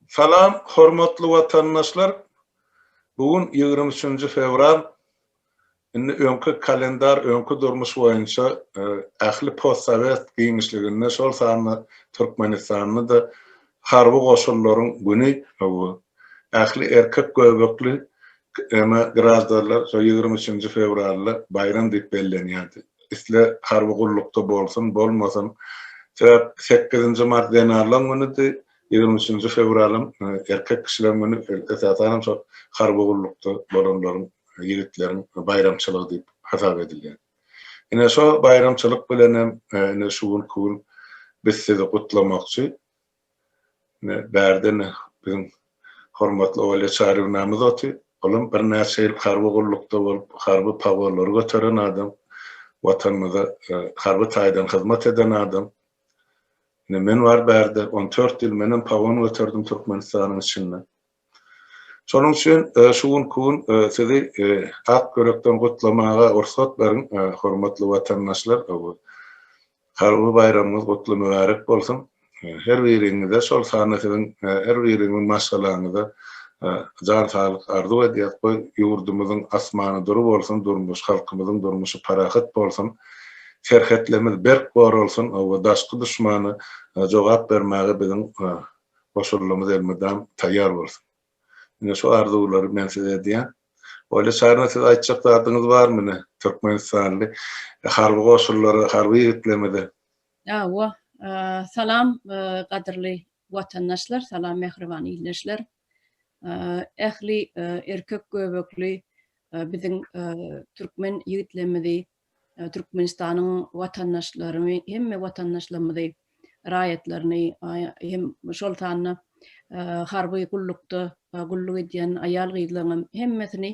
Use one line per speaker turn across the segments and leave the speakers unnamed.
Salam hormatly watandaşlar bu gün ýigrimi üçünji fewral indi öňki kalendar öňki durmuş boýunça ähli post sowet giňişliginde şol sanda türkmenistanda da harby goşunlaryň güni Ähli erkek göbekli kma graždarlar şo ýigrimi üçünji fewralda baýram diýip bellenýärdi. Isle harby gullukda bolsun, bolmasyn. Sebäp sekizinji mart zenanlaň günüdi, ýigrimi üçünji fewralam erkek kişileň güni, esasanam şo harby gullukda bolanlaryň, ýigitleriň baýramçylygy diýip hasap edilýär. Ine şo baýramçylyk bilenem ine şu günki gün biz sizi gutlamakçy. Ine, bärde ine biziň hormatly Olýa Çarywnamyz oty. Olam birnäçe ýyl harby gullukda bolup, harby pogolary göteren adam, Watanymyza harby taýdan hyzmat eden adam. Ine, men bar bärde, on dört ýyl menem pogon göterdim Türkmenistanyň içinde. Şonuň üçin şu günki gün sizi ak ýürekden gutlamaga rugsat beriň, hormatly watandaşlar! Harby baýramyňyz gutly mübärek bolsun! Her biriňize, şol sanda siziň her biriňiziň maşgalaňyza jan saglyk arzuw edýäs. Goý, ýurdumyzyň asmany dury bolsun, durmuş, halkymyzyň durmuşy parahat bolsun, serhetlerimiz berk goralsyn, daşky duşmana jogap bermäge biziň Goşulymyz elmydam taýýar bolsun. Ine şu arzuwlary men size edýän. Olýa Çaryna siz aýtjak zadyňyz barmy ine Türkmenistanly harby goşullara harby ýigitlerimize. Hawa
Salam gadyrly watandaşlar Salam mähriban ildeşler Ähli erkek göbekli biziň Türkmen ýigitlerimizi Türkmenistanyň watandaşlaryny, hemme watandaşlarymyzy, raýatlaryny, hem şol sanda harby gullukda gulluk edýän aýal-gyzlaryňam hemmesini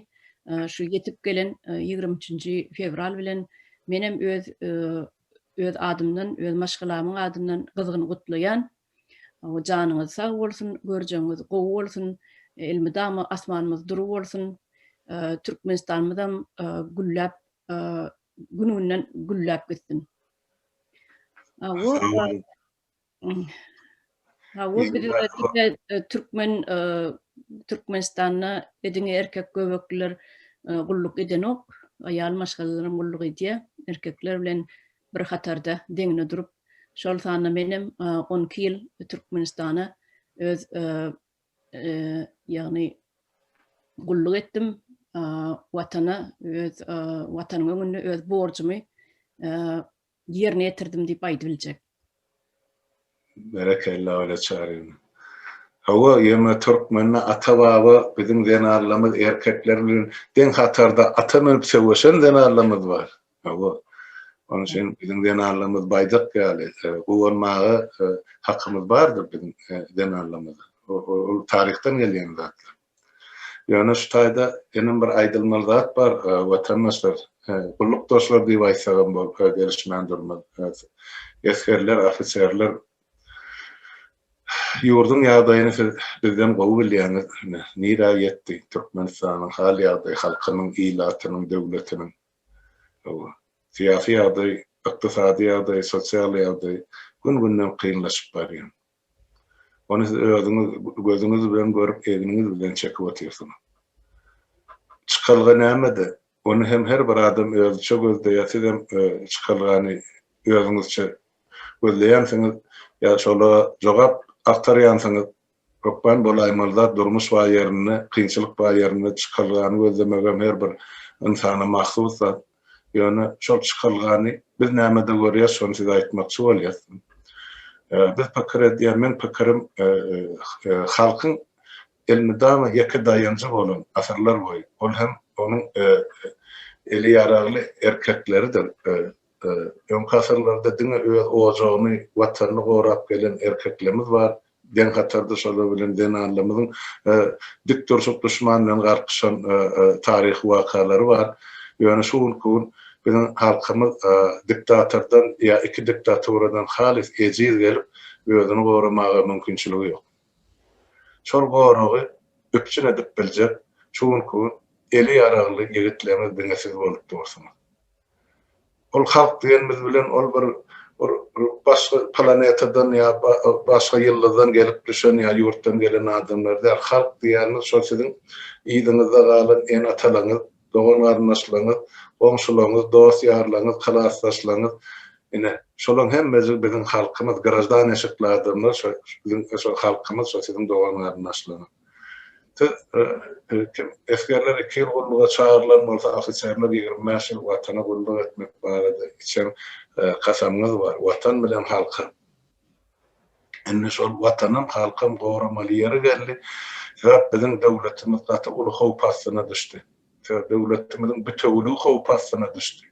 şu ýetip gelen ýigrimi üçünji fewral bilen menem öz adymdan, öz maşgalamyň adyndan gyzgyn gutlaýan. Janyňyz sag bolsun, görjegiňiz gowy bolsun, elmydama asmanymyz dury bolsun, Türkmenistanymyzam gülläp, gün-günden gülläp gitsin. Türkmen Türkmenistanda diňe erkek göbekliler gulluk edenok, aýal maşgalalaram gulluk edýär. Erkekler bilen bir hatarda deňine durup, şol sanda menem on iki ýyl Türkmenistana öz ýagny gulluk etdim, Watana öz Watanyň öňünde öz borjumy ýerine ýetirdim diýip aýdyp biljek. Berekella
Öle Çaryň. Hawa ýöne türkmende ata baba biziň zenanlamyz erkekler bilen deň hatarda ata münüp söweşen zenanlamyz bar. Hawa. Onuň üçin biziň zenanlamyz baýdak ýaly guwanmaga hakymyz bardyr biziň zenanlamyz. Ol taryhdan gelýän zatlar. Ýöne şu taýda inem bir aýdylmaly zat bar, watandaşlar, gullukdaşlar diýip aýtsagam bolsa gelişmän durmaz. Esgerler, ofiserler, ýurduň ýagdaýyny siz bizden gowy bilýäňiz. Ine, nirä ýetdi Türkmenistanyň hal-ýagdaýy, halkynyň, ilatynyň, döwletiniň? Hawa, syýasy ýagdaý, ykdysady ýagdaý, sosial ýagdaý gün-günden kynlaşyp barýar. Ony siz özüňiz gözüňiz bilen görüp, egniňiz bilen çekip otyrsyňyz. Çykalga nämede? Ony hem her bir adam özüçe gözleýär, siz hem çykalgany özüňizçe gözleýänsiňiz, ýa şola jogap agtarýansyňyz. Hökman bolaýmaly zat durmuş bar ýerinde, kynçylyk bar ýerinde çykalgany gözlemegem her bir ynsana mahsus zat. Ýöne şol çykalgany biz nämede görýäs, şony size aýtmakçy bolýas. Biz pikir edýän, meň pikirim, halkyň elmydama ýeke daýanjy bolan, asyrlar boýy, ol hem onuň eli ýaragly erkekleridir. Öňki asyrlarda diňe öz ojagyny, Watanyny gorap gelen erkeklemiz bar, Deň hatarda şolar bilen zenanlarymyzyň dik durşup duşman bilen garpyşan taryhy wakalary bar. Ýöne şu günki gün biziň halkymyz diktatordan ýa iki diktaturadan halys ejiz gelip özüni goramaga mümkinçiligi ýok. Şol goragy üpjün edip biljek şu günki gün eli ýaragly ýigitlerimiz diňe siz bolup dursuňyz. Ol halk diýenimiz bilen ol bir başga planetadan ýa başga ýyldyzdan gelip düşen ýa ýurtdan gelen adamlar däl. Halk diýýänimiz şol siziň yzyňyzda galan ene-atalaňyz, dogan-garyndaşlaňyz, goňşulaňyz, dost-ýarlaňyz, klasdaşlaňyz. Ine, şolaň hemmesi biziň halkymyz, graždanişikli adamlar şo biziň şo halkymyz, şo siziň dogan-garyndaşlaňyz. Esgerler iki ýyl gulluga çagyrylan bolsa, ofiserler ýigrimi bäş ýyl Watana gulluk etmek barada içen kasamyňyz bar. Watan bilen halkam. Indi şol Watanam, halkam goramaly ýeri geldi. Sebäp biziň döwletimiz gaty uly howp astyna düşdi. Döwletimiziň bitewiligi howp astyna düşdi.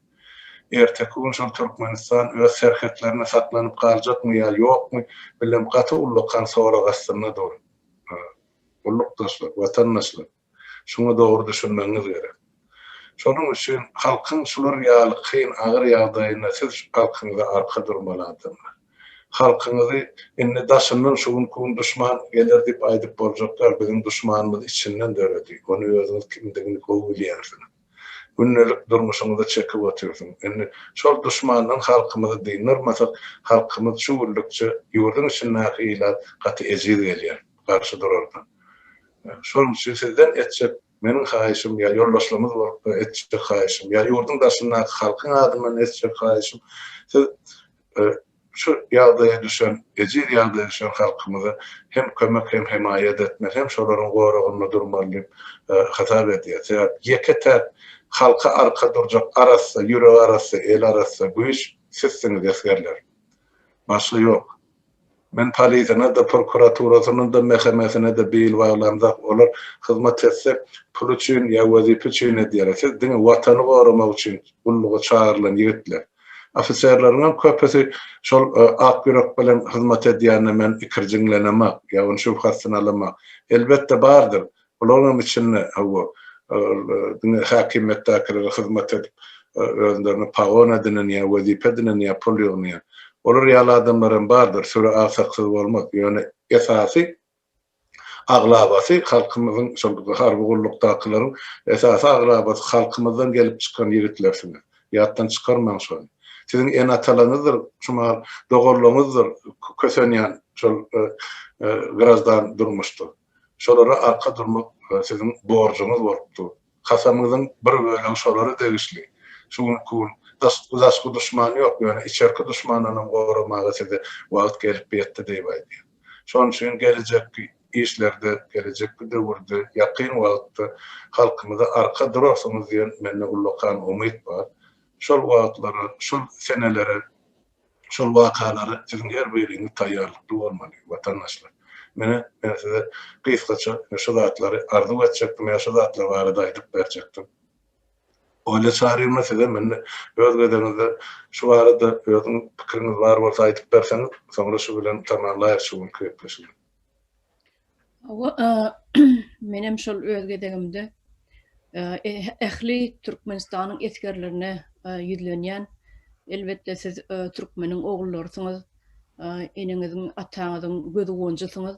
Erteki gün şol Türkmenistan öz serhetlerinde saklanyp galjakmy ýa ýokmy, bilemok, gaty ullakan sorag astynda dur. Gullukdaşlar, watandaşlar, şuňa dogry düşünmegiňiz gerek. Şonuň üçin halkyň şular ýaly kyn, agyr ýagdaýynda siz halkyňyza arka durmaly adamlar. Halkyňyzy indi daşyndan şu günki gün duşman geler diýip aýdyp boljak däl. Biziň duşmanymyz içinden döredi. Ony özüňiz kimdigini gowy bilýänsiňiz. Gündelik durmuşyňyzy çekip otyrsyň. Indi şol duşmandan halkymyzy dyndarmasak, halkymyz şu günlükçe ýurduň içindäki ilat gaty ejiz gelýär. Garşy durardan. Şonuň üçin sizden etjek meniň haýyşym ýa ýoldaşlarymyz bolup etjek haýyşym, ýa ýurduň daşyndaky halkyň adyndan etjek haýyşym, siz Şu ýagdaýa düşen, ejiz ýagdaýa düşen halkymyza hem kömek hem hemaýat etmeli, hem şolaryň goragynda durmaly diýip hasap edýär. Sebäp ýeke-täk halka arka durjak arassa, ýüregi arassa, eli arassa güýç sizsiňiz esgerler. Başga ýok. Men polisiýana-da, prokuraturasyna-da, mähemetine-de bil baglamzok. Olar hyzmat etse, pul üçin ýa wezipe üçin edýärler. Siz diňe Watany goramak üçin gulluga çagyrylan ýigitler. Ofiserleriňem köpüsi şol ak ýürek bilen hyzmat edýänine men ikirjiňlenemak, ýa ony şübhasynalamak. Elbetde, bardyr. Olaryň içinde, hawa, diňe häkimiýetdäkilere hyzmat edip, özlerine pagon edinenýär, wezipe edinenýär, pul ýygnanýar. Olar ýaly adamlar hem bardyr, süre agsaksyz bolmaz. Ýöne esasy, aglabasy halkymyzyň, şol harby gullukdakylaryň esasy aglabasy halkymyzdan gelip çykan ýigitlersiňiz. Ýatdan çykarmaň şony. Siziň ene-atalaryňyzdyr, şu mahal doganlaryňyzdyr kösenýän şol grajdan durmuşda. Şolara arka durmak siziň borjuňyz bolup dur. Kasamyňyzyň bir bölegi şolara degişli. Şu günki gün daşky duşman ýok, ýöne içerki duşmandanam goramaga size wagt gelip ýetdi diýip aýdýan. Şonuň üçin gelejekki işlerde, gelejekki döwürde, ýakyn wagtda halkymyza arka durarsyňyz diýen mende ullakan umyt bar. Şol wagtlara, şol senelere Şol wakalara siziň her biriňiz taýýarlykly bolmaly, watandaşlar. Menä, men size gysgaça ine şu zatlary arzuw etjekdim ýa şu zatlar barada aýdyp berjekdim. Olýa Çaryýewna sizem indi öz gezegiňizde şu barada özüň pikiriňiz bar bolsa aýdyp berseňiz, soňra şu bilen tamamlaýarys şu günki gepleşigi.
Menem şol öz gezegimde ähli Türkmenistanyň esgerlerine ýüzlenýän. Elbetde siz türkmeniň ogullarysyňyz. Eneňiziň, ataňyzyň gözigonjysyňyz.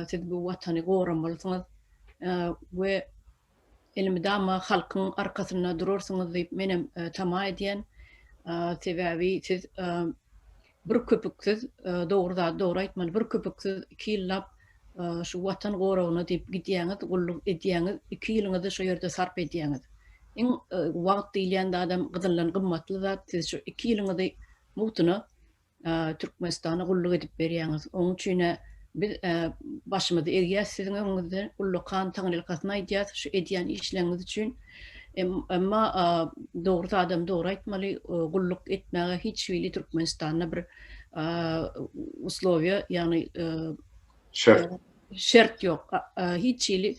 Siz bu watany goramalysyňyz we Elmydama halkyň arkasynda durarsyňyz diýip menem tama edýän. Sebäbi siz bir köpüksiz, dogry zady dogry aýtmaly, bir köpüksiz iki ýyllap şu Watan goragyna diýip gidýäňiz, gulluk edýäňiz, iki ýylyňyzy şu ýerde sarp edýäňiz. Iň wagt diýilýän zadam gyzyldan gymmatly zat, siz şu iki ýylyňyzy mugtuna Türkmenistana gulluk edip berýäňiz. Oň üçin-ä biz başymyzy egýäs siziň öňüňizde, ullakan taňrylkasyny aýdýas şu edýän işleriňiz üçin. Emma dogry adam dogry aýtmaly, gulluk etmäge hiç hili Türkmenistanda bir uslowiýa, ýagny şert ýok. Hiç hili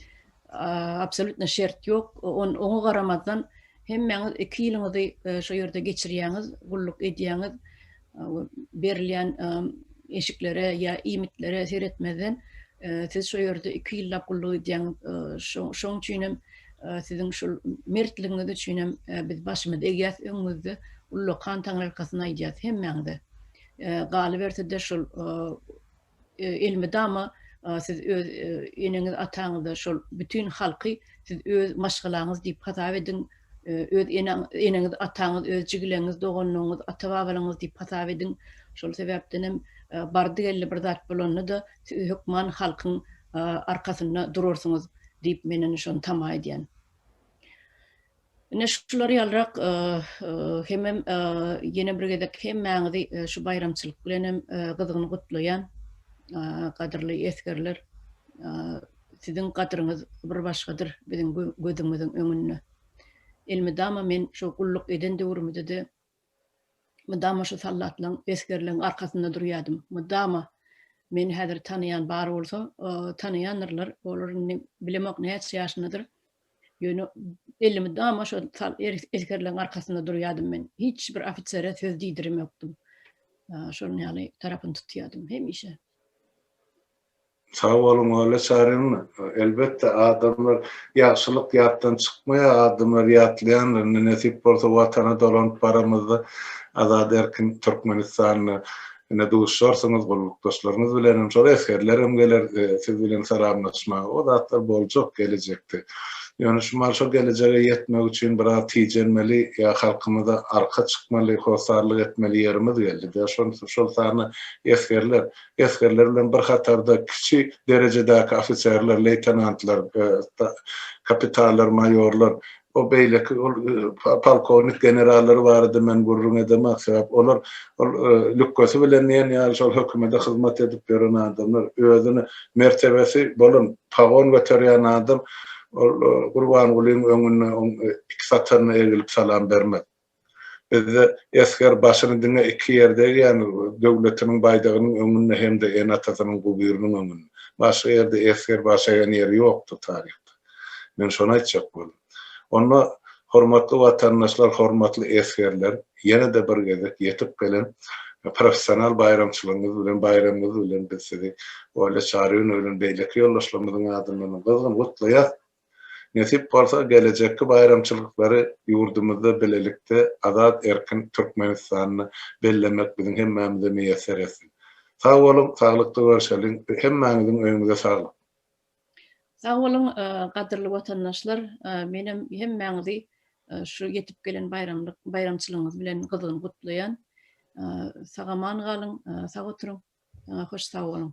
Absolutno şert ýok. Oňa garamazdan hemmäňiz iki ýylyňyzy e, şu ýerde geçirýäňiz, gulluk edýäňiz. Berilýän eşiklere ýa iýmitlere seretmezden e, siz şu ýerde iki ýyllap gulluk edýäňiz. E, şoň üçin hem siziň şu mertligiňiz üçin hem biz başymyz egýäs öňüňizde. Ullakan taňry arkasyna aýdýas hemmäňize. Galyberse-de şul Elmydama siz öz eneňiz ataňyzy şol bütin halky siz öz maşgalaňyz diýip hasap ediň, öz eneňiz ataňyz öz jigileňiz doganlaryňyz ata babalaryňyz diýip hasap ediň. Şol sebäpden hem bardy geldi bir zat bolanda-da siz hökman halkyň arkasynda durarsyňyz diýip men indi şony tama edýän. Ine şular ýalyrak hemem ýene bir gezek hemmäňizi şu baýramçylyk bilen hem gyzgyn gutlaýan gadyrly esgerler siziň gadyryňyz bir başgadyr biziň gözümiziň öňünde. Elmydama men şu gulluk eden döwrümizde de Mydama şu sallatlygyň, esgerligiň arkasynda durýardym. Mydama, Meni häzir tanaýan bar bolsa, tanaýandyrlar, olar indi bilemok näçe ýaşyndadyr. Ýöne belli mydama şo esgerligiň arkasynda durýardym men. Hiç bir ofisere söz diýdiremokdym. Şonuň ýaly tarapyny tutýardym hemişe.
Sag boluň Ola Çarin elbetde adamlar ýagşylyk ýatdan çykmaýar adamlar ýatlaýandyr indi nesip bolsa watana dolanyp baramyzda azat erkin Türkmenistanda ine duşarsyňyz gullukdaşlaryňyz bilenem şol esgerlerem geler siz bilen salamlaşmaga o zatlar boljak gelejekde ýöne şu mahaly şo gelejege ýetmek üçin biraz tijenmeli ýa halkymyza arka çykmaly hossarlyk etmeli ýerimiz geldi şol sany esgerler esgerler bilen bir hatarda kiçi derejedäki ofiserler, leýtenantlar, kapitallar, maýorlar we beýleki ol polkownik generallary barada men gürrüň edemok, sebäp olar ol lükgesi bilen diýen ýaly şol hökümede hyzmat edip ýören adamlar, özüni mertebesi bolan pagon göterýän adam ol Gurbangulyň öňünde oň iki sataryna egilip salam bermez. Bizde esger başyny diňe iki ýerde egýän, döwletiniň baýdagynyň öňünde hem-de ene-atasynyň guburynyň öňünde. Başga ýerde esger baş egýän ýeri ýokdur taryhda. Men şony aýtjak boldum. Onda, hormatly watandaşlar, hormatly esgerler, ýene-de bir gezek ýetip gelen professional baýramçylygyňyz bilen, baýramyňyz bilen biz sizi Olýa Çaryýewna bilen beýleki ýoldaşlarymyzyň adyndanam gyzgyn gutlaýas. Nesip bolsa, gelejekki baýramçylyklary ýurdumyzda bilelikde azat erkin Türkmenistanyny bellemek biziň hemmämize miýesser etsin. Sag boluň, saglykda görşeliň, hemmäňiziň öýüňize saglyk!
Sag boluň, gadyrly watandaşlar, menem hemmäňizi şu ýetip gelen baýramlyk baýramçylygyňyz bilen gyzgyn gutlaýan. Sag-aman galyň, sag oturyň, hoş sag boluň!